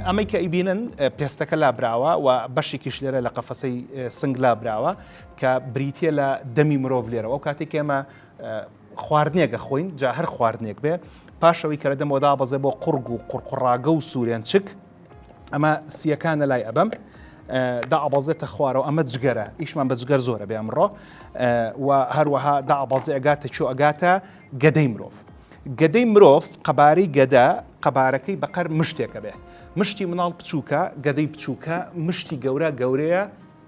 ئەمەی کە ئەیبینن پێستەکە لابراوە و بەشێکیش لێرە لە قەفەسەی سنگ لابراوە کە بریتە لە دەمی مرۆڤ لێرەوە ئەو کاتێک ئێمە خواردنێک دەخۆین جا هەر خواردنێک بێ پاشەوەی کە لە دەمەوەدا بەزێ بۆ قڕگ و قڕقڕاگە و سوورێنچک ئەمە سیەکانە لای ئەبەم دابەزێتە خوارەوە ئەمە جگەرە ئیشمان بە جگەر زۆرە بێ ئەمڕۆ و هەروەها دابەزێ ئەگاتە چۆ ئەگاتە گەدەی مرۆڤ گەدەی مرۆڤ قەبارەی گەدە قەبارەکەی بەقەر مشتێکە بێ مشتی مناڵ بچووکە گەدەی بچووکە مشتی گەورە گەورەیە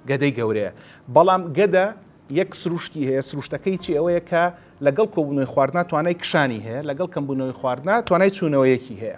گەدەی گەورەیە بەڵام گەدە یەک سروشتی هەیە سروشتەکەی چی ئەوەیە کە لەگەڵ کۆبوونەوەی خواردنا توانای کشانی هەیە لەگەڵ کەمبوونەوەی خواردنا توانای چوونەوەیەکی هەیە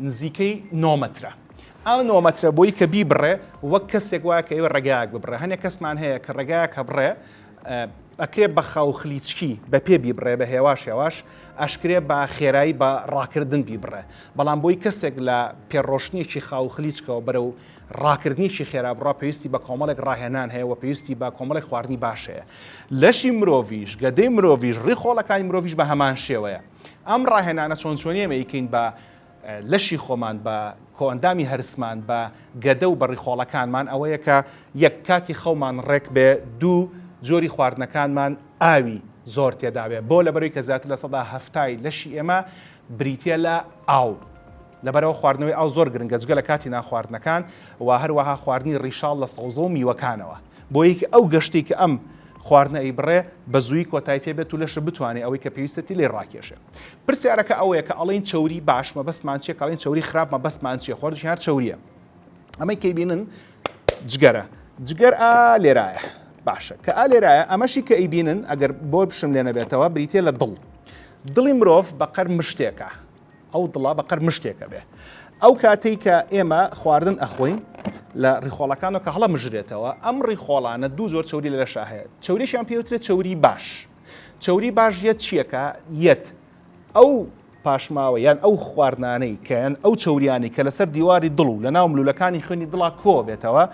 نزیکەی نۆ مەترە. ئەو نۆ مەترە بۆی کە بیبڕێ وەک کەسێک وایە کە ئێوە ڕێگایەک ببڕێ. هەنێ کەسمان هەیە کە ڕێگایەک هەبڕێ ئەکرێ بە خاو خلیچکی بە پێ بیبڕێ بە هێواش هێواش ئەشکرێ بە خێرایی بە ڕاکردن بیبڕێ. بەڵام بۆی کەسێک لە پێڕۆشتنێکی خاو خلیچکەوە بەرەو ڕاکردنیکی خێرا بڕا پێویستی بە کۆمەڵێک ڕاهێنان هەیە و پێویستی بە کۆمەڵێک خواردنی باش هەیە. لەشی مرۆڤیش، گەدەی مرۆڤیش، ڕیخۆڵەکانی مرۆڤیش بە هەمان شێوەیە. ئەم ڕاهێنانە چۆن چۆنی ئێمە ئەیکەین بە لەشی خۆمان بە کۆئەندامی هەرسمان بە گەدە و بەڕیخۆڵەکانمان ئەوەیە کە یەک کاتی خەومان ڕێک بێ دوو جۆری خواردنەکانمان ئاوی زۆر تێداوێ بۆ لەبەروی کە زیاتر لە سەدا هەفتای لەشی ئێمە بریتە لە ئاو لەبەرئەوە خواردنەوەی ئاو زۆر گرنگە جگە لە کاتی نانخواردنەکان و هەروەها خواردنی ڕیشاڵ لە سەوزە و میوەکانەوە بۆی کە ئەو گەشتەی کە ئەم خواردنە ئەیبڕێ بە زووی کۆتای پێ بێت و لەشە بتوانێ ئەوەی کە پێویستێتی لێی ڕاکێشێ پرسیارەکە ئەوەیە کە ئەڵێن چەوری باش مەبەستمان چیە کاڵین چەوری خراپ مەبەستمان چیە خۆر ژیار چەوریە ئەمەی کەی بینن جگەرە جگەر ئا لێرایە باشە کە ئا لێرایە ئەمەشی کە ئەیبینن ئەگەر بۆ بشم لێ نەبێتەوە بریتە لە دڵ دڵی مرۆڤ بەقەر مشتێکە ئەو دڵە بە قەر مشتێک ئەبێ. ئەو کاتەی کە ئێمە خواردن ئەخۆین لە ڕیخۆڵەکانەوە کە هەڵەمژرێتەوە، ئەم ڕیخۆڵانە دوو جۆر چەوری لە لەشا هەیە. چەوریشیان پێ وترێت چەوری باش. چەوری باش یەت چییەکە؟ یەت ئەو پاشماوە یان ئەو خواردنانەی کە یان ئەو چەوریانەی کە لەسەر دیواری دڵ و لەناو ملوولەکانی خوێنی دڵا کۆ ئەبێتەوە،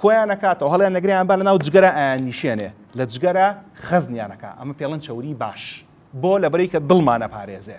کۆیان ئەکاتەوە، هەڵیان ئەگرێ یان با لەناو جگەرا ئایاننیشێنێ، لە جگەرا خەزنیان ئەکا. ئەمە پێڵێن چەوری باش. بۆ؟ لەبەرئەوەی کە دڵمان ئەپارێزێ.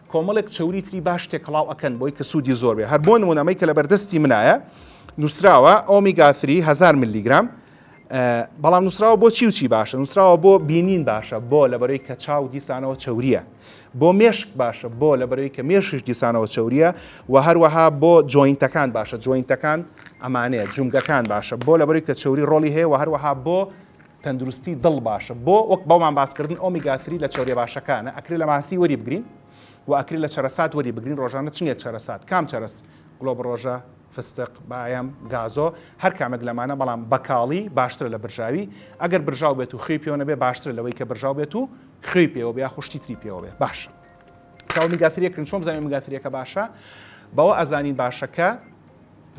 کۆمەڵێک چەوری تری باش تێکەڵاو ئەکەن بۆی کە سوودی زۆر بێ هەر بۆ نمونە ئەمەی کە لەبەردەستی منایە نووسراوە ئۆمیگا 3 هزار ملیگرام بەڵام نووسراوە بۆ چی و چی باشە نووسراوە بۆ بینین باشە بۆ لەبەرەی کە چاو دیسانەوە چوریە بۆ مێشک باشە بۆ لەبەرەوەی کە مێشش دیسانەوە چوریە و هەروەها بۆ جوینتەکان باشە جوینتەکان ئەمانەیە جومگەکان باشە بۆ لەبەری کە چوری ڕۆلی هەیە و هەروەها بۆ تەندروستی دڵ باشە بۆ؟ وەک بۆمان باس کردن ئۆمیگا ثری لە چەوریە باشەکانە ئەکرێ لە ماسی وەری بگرین وە ئەکرێ لە چەرەسات وەری بگرین ڕۆژانە چنگێک چەرەسات کام چەرەس گڵۆبڕۆژە فستق بایەم گازۆ هەر کامێک لەمانە بەڵام بەکاڵی باشترە لە برژاوی ئەگەر برژاو بێت و خوێی پێوە نەبێ باشترە لەوەی کە برژاو بێت و خوێی پێوە بێ یاخو شتی تری پێوە بێ باشە کە ئۆمیگا ثریەکرین چۆن بزانین ئۆمیگا ثریەکە باشە بەوە ئەزانین باشەکە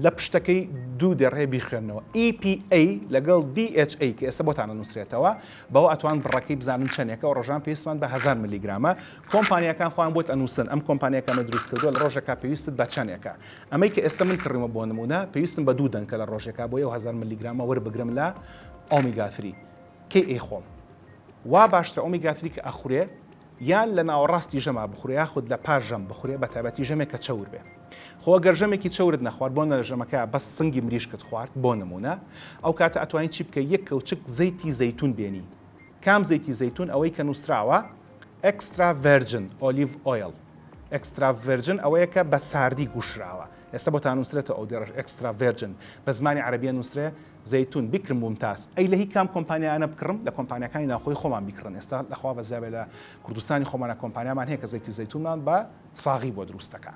لە پشتەکەی دوو دەرێ بیخوێنەوە EPA لەگەڵ DHA کە ئێستا بۆتان ئەنووسرێتەوە بەوە ئەتوان بڕەکەی بزانن چەندێکە و ڕۆژان پێویستمان بە هەزار ملیگرامە کۆمپانیاکان خۆیان بۆت ئەنووسن ئەم کۆمپانیا کە ئەمەی دروست کردووە لە ڕۆژێکا پێویستت بە چەندێکە ئەمەی کە ئێستا من کڕیومە بۆ نموونە پێویستم بە دوو دەنکە لە ڕۆژێکا بۆیە و هەزار ملیگرامە وەربگرم لە ئۆمیگا ثری کەی ئەیخۆم وا باشترە ئۆمیگا ثری کە ئەخورێ یان لە ناوەڕاستی ژەما بخورێ یاخود لە پاش ژەم بخورێ بە تایبەتی ژەمێک کە چەور بێ خۆ گەر ژەمێکی چەورت نەخوارد بۆ نەرە ژەمەکە بەس سنگی مریشکت خوارد بۆ نمونە ئەو کاتە ئەتوانی چی بکەی یەک کەوچک زەیتی زەیتون بێنی کام زەیتی زەیتون ئەوەی کە نوسراوە ئێکسترا ڤێرجن ئۆلیڤ ئۆیڵ ئێکسترا ڤێرجن ئەوەیە کە بە ساردی گوشراوە ئێستا بۆ تا نوسرێتەوە ئەو دێڕەش ئێکسترا ڤێرجن بە زمانی عەرەبیە نوسرێ زەیتون بکرم مومتاز. ئەی لە هی کام کۆمپانیایانە بکڕم؟ لە کۆمپانیاکانی ناوخۆی خۆمان بیکڕن ئێستا لە خوا بەزیابێ لە کوردستانی خۆمانا کۆمپانیامان هەیە کە زەیتی زەیتونمان بە ساغی بۆ دروست دەکا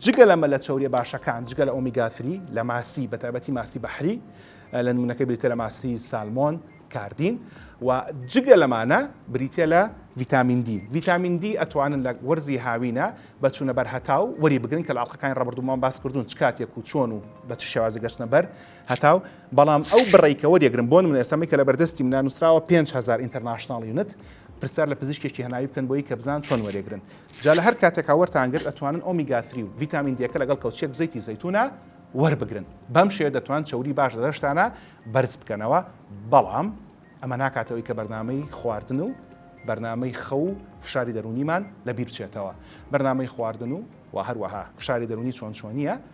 جگە لەمە لە چەوریە باشەکان جگە لە ئۆمیگا ثری لە ماسی بە تایبەتی ماسی بەحری لە نمونەکە بریتە لە ماسی سالمۆن کاردین و جگە لەمانە بریتە لە ڤیتامین دی ڤیتامین دی ئەتوانن لە وەرزی هاوینە بە چوونە بەر هەتاو وەری بگرن کە لە ئاڵقەکانی ڕابردوومان باس کردوون چ کاتێک و چۆن و بە چ شێوازی گەشتنە بەر هەتاو، بەڵام ئەو بڕەی کە وەریەگرم، بۆ نموونە ئێستا من کە لە بەردەستی منە نووسراوە پێنج هەزار ئینتەرناشناڵ یونت، پرسیار لە پزیشکێکی هەناوی بکەن بۆی کە بزانن چۆن وەریەگرن. جا لە هەر کاتێکا وەرتان گرت ئەتوانن ئۆمیگا ثری و ڤیتامین دییەکە لەگەڵ کەوچکێک زەیتی زەیتوونە وەربگرن. بەم شێوەیە دەتوانن چەوری باش لە لەشتانا بەرز بکەنەوە. بەڵام ئەمە ناکاتە هۆی کە بەرنامەی خواردن و بەرنامەی خەو و فشاری دەروونیمان لەبیر بچێتەوە. بەرنامەی خواردن و وە هەروەها فشاری دەروونی چۆن چۆنییە؟